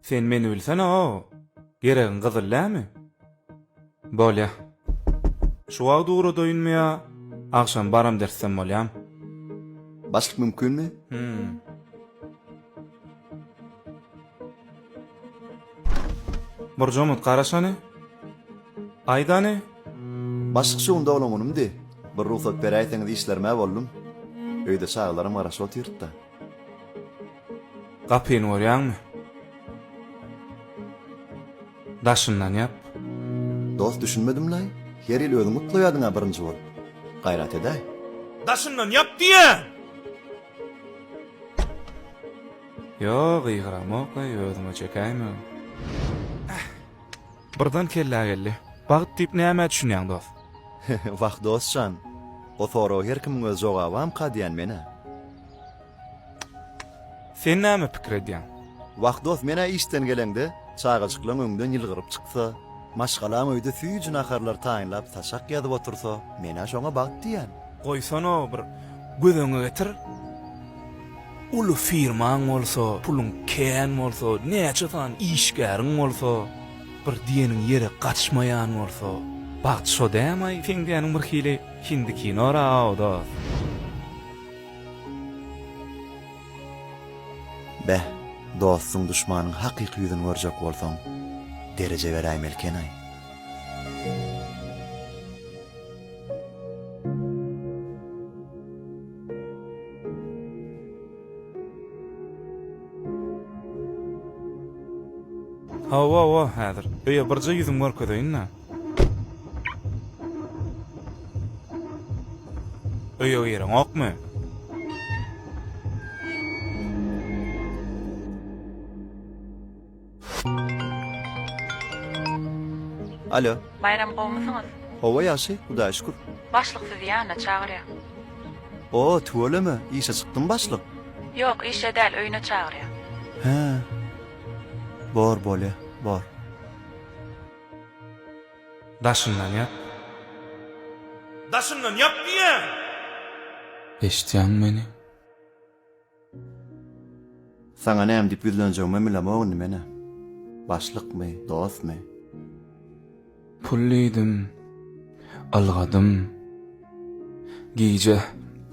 Sen meni bilsene-ow. Geregiň gyzyl dämi? Bolýa. Şu wagt ugradaýynmy ýa agşam baram dersem bolýam? Başlyk mümkinmi? Hum. Burjamyt garaşany. Aýdany. Başlyk şu gün doglan günümdi. Bir rugsat beräýseňiz işlerim-ä boldum. Öýde çagalaram garaşyp otyrt-da. Gapyny görýäňmi? Daşyndan ýap. Dost düşünmedim-laý? Her ýyl özüň gutlaýardyň-a birinji bolup. Gaýrat edäý. Daşyndan ýap diýýän! Ýo, gygyramok-laý, özüme çekäýmegin. Birden kellä geldi. Bagt diýip nämä düşünýäň dost? Wah dostjan! O soraga her kimiň öz jogabamyka diýýän men-ä. Sen näme pikir edýäň? Wah dost men-ä işden geleňde, çagajyklaň öňden ýylgyryp çyksa, maşgalaň öýde süýji naharlar taýynlap saçak ýazyp otursa, men-ä şoňa bagt diýýän. Goýsana bir göz öňe getir. Uly firmaň bolsa, puluň kän bolsa, näçe sany işgäriň bolsa, bir diýeniň ýere gaçmaýan bolsa, bagt şo dämaý, seň diýeniň bir hili hindi kinoraw, dost. Beh, dostuň duşmanyň hakyky ýüzüni görjek bolsaň, dereje beräýmelikenaý. Hawa-wa, häzir. Öýe birje ýüzüm görkezeýin-le. Öýe gireňokmy? Alo. Baýram gowmysyňyz? Hawa ýagşy, Hudaýa şükür. Başlyk sizi ýanyna çagyrýar. O, tüweleme, işe çykdymy başlyk? Ýok, işe däl, öýüne çagyrýar. Hä. Bor, bolýa, bor. Daşyndan ýap. Daşyndan ýap diýýän! Eşitýäňmi meni? Saňa näme diýip ýüzlenjegimem bilemok indi men-ä. Başlykmy, dostmy? Pul diýdim. Ylgadym. Gije,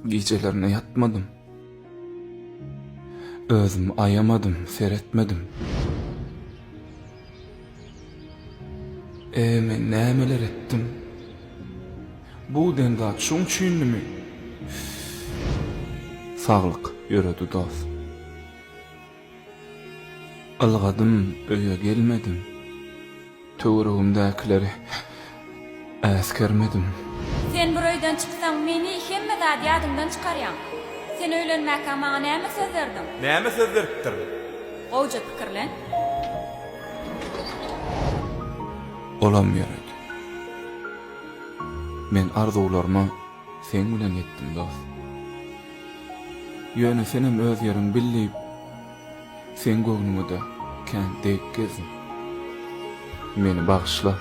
gijelerine ýatmadym. Özümi aýamadym, seretmedim. Äý, men nämeler etdim? Bu den zat şoň üçindimi? Saglyk, ýöredi dost. Ylgadym, öýe gelmedim. Töweregimdäkileri Äsgermedim. Sen bir öýden çyksaň meni hemme zat ýadyňdan çykarýaň. Sen öýlenmäkä maňa näme söz berdiň? Näme söz beripdirin? Gowja pikirlen. Olam gerek. Men arzuwlaryma seň bilen ýetdim dost. Ýöne senem öz ýeriň bil diýip. Seň göwnüňede kän dek gezdim. Meni bagyşla.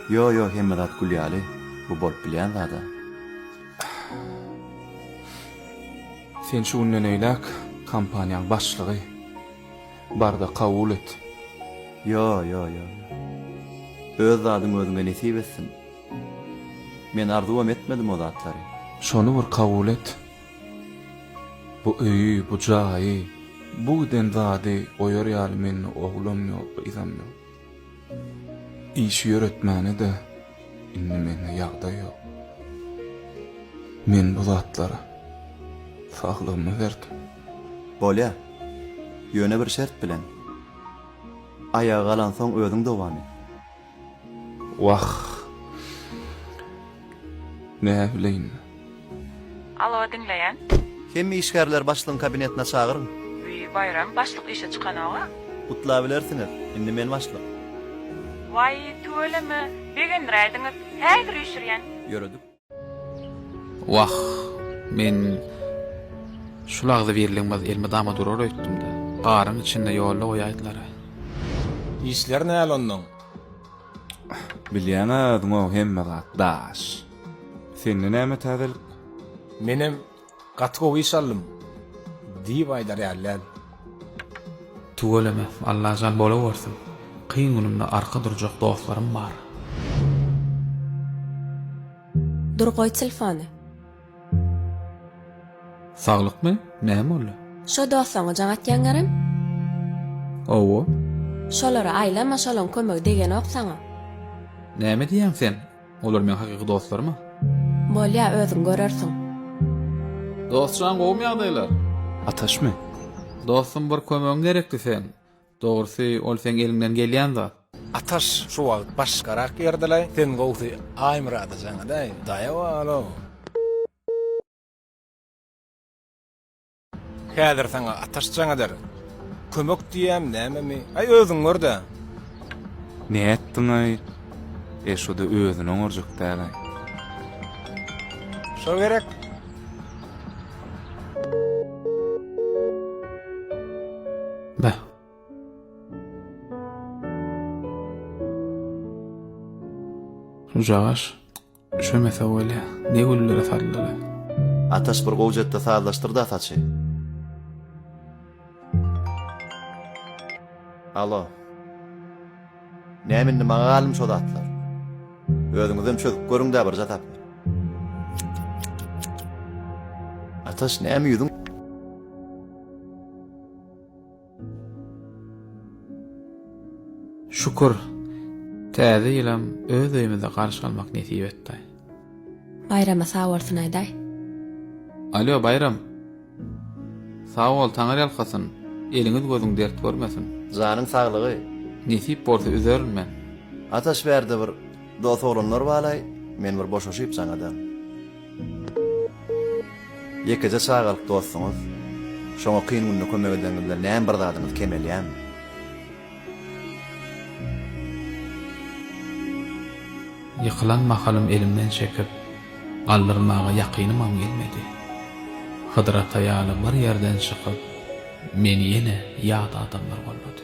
Ýo ýo hemme zat gül ýaly bu bolup bilýän zada. Sen şu günden eýläk kompaniýaň başlygy. Barda kabul et. Ýo ýo ýo ýo. Öz zadyň özüňe nesip etsin. Men arzuwam etmedim o zatlary. Şony bir kabul et. Bu öýi, bu jaýy, bu giden zady goýar ýaly mende oglam ýok, gyzam ýok. Işi ýöretmäne-de indi mende ýagdaý ýok. Men bu zatlara saglygymy berdim. Bolýar. Ýöne bir şert bilen. Aýaga galansoň özüň dowam et. Wah. Näbileýin. Alo diňleýän. Hemme işgärleri başlygyň kabinetine çagyryň. Wiý, Baýram, başlyk işe çykanok-a. Gutlabilersiňiz, indi men başlyk. Waý, tüweleme, begendiräýdiňiz. Häzir üýşürýän. Ýöredip. Wah, men şul agzybirligimiz elmydama durar öýtdüm-de, garyň içinde ýolda goýaýdylar-a. Işler näl onnoň? Bilýäň-ä özüň-ow hemme zat daş. Sende näme täzelik? Menem Gaty gowy iş alym diýip aýdar ýaly däl. Tüweleme Allajan bolawersin kyn günümde arka durjak dostlarym bar. Dur goý tlfony. Saglykmy? Näme boldy? Şo doslaňa jaň atýaňarem? Owo. Şolara aýlama şolaň kömegi degenok saňa. Näme diýýäň sen? Olar meň hakyky dostlarymy? Bolýa özüň görersiň. Dostjan gowumy ýagdaýlar? Ataşmy? Dostum bir kömegiň gerekdi seň. Dogrusy ol seň eliňden gelýän zat. Ataş şu wagt başgarak ýerdelaý sen gowsy Aýmyrada jaň edäý daýaw alo. Häzir saňa ataş jaň eder. Kömek diýýämi, nämemi? Aý, özüň gör-dä! Nätdiň-aý? E, şu-da özüni oňarjak däl-aý. Şo gerek. Beh. Şujagaş. Üşemese bolýa, ne güller saldylar. Ataş bir gowjatda sazlaşdyrda saçy. Alo. Näme indi maňa galmy şo zatlar? Özüňizem çözüp görüňdä birje tap. Ataş näme ýüzüň? Şükür, täze ýylam öz öýümizde garşy almak nesip etdi. Baýrama sag bolsun aýdaý. Alýo, Baýram! Sag bol, Taňar ýalkasyn, eliňiz gözüň dert görmesin. Janyň saglygy. Nesip bolsa üzerin men. Ataş bärde bir dos oglanlar balaý, men bir boşaşyp jaňadan. Ýekeje çagalyk dostuňyz, şoňa kyn günde kömek edeniňiz bilen näme bir zadyňyz kemelýärmi? Ýykylan mahalym elimden çekip, galdyrmaga ýakynymam gelmedi. Hydyr ata ýaly bir ýerden çykyp, meni ýene ýat adamlar gollady.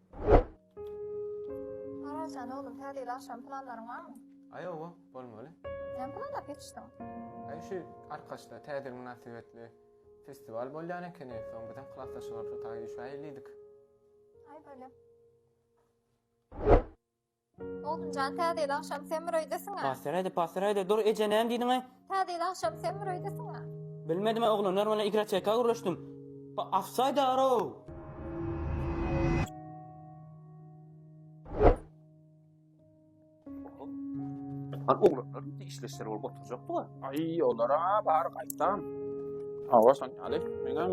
Arazjan oglum täzeyli agşam planlaryň barmy? Aý owa bolmaly. Näme planlap ýetişdiň? Aý şu Arkaçda täze ýyl mynasybetli festiwal bolýan ekeni, soň bizem klasdaşlarymyz şo taýa düşäýelidik. Aý bolýa. Oguljan täze ýyl agşam sen bir öýdesiň-ä. Passyraýda, passyraýda, dur, eje, näme diýdiň-ä? Täze ýyl agşam sen bir öýdesiň-ä. Bilmedim-ä, oglanlar bilen igroçeka gürleşdim. Ba, afsaýdar-ow! Hany oglanlar indi işli işleri bolup oturjakdyga. Aý, olar-a bar gaýtam. Hawa, şonýaly. Meňem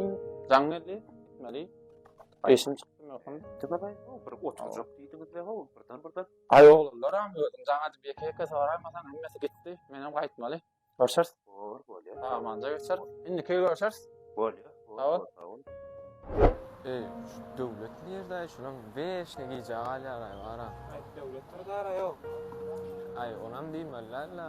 jaň geldi, gitmeli. Eşim çykdy möhüm diýdi gyz-aý ho, bir oturjak diýdiňiz-le ho, birden-birden. Aý oglanlaram, özüň jaň edip ýeke-ýeke soraýmasaň hemmesi gitdi, menem gaýtmaly. Görşeris. Bor, bolýa. Salamanja geçer. Indiki görşeris. Bolýa. Bor, sag bol. Eý, şu Döwlet nirde-aý, şulam weşne gijä galýar-aý, bar-a. Aý, Döwlet bir zar-a ýok. Aý, onam diýmeli däl-le.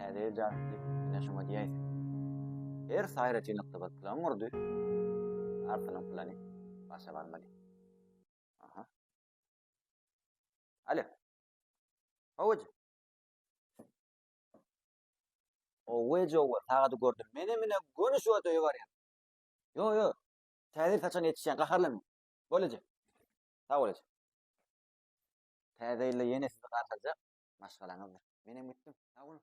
Häzir jartdy, ine şoňa diýäýse. Her saýra çynykdy bir plan gurdy. Artynyň plany başa barmady. Aha. Alo. Howaj. Owe jowa, sagady gördüm. Mene mine göni şu öde barýan. Yo yo. Täze saçan yetişýän gaharlanma. Bolajak. Sag bolajak. Täze ýylda ýene sizi garşylajak maşgalaňyzdyr. Menem gitdim. Sag boluň.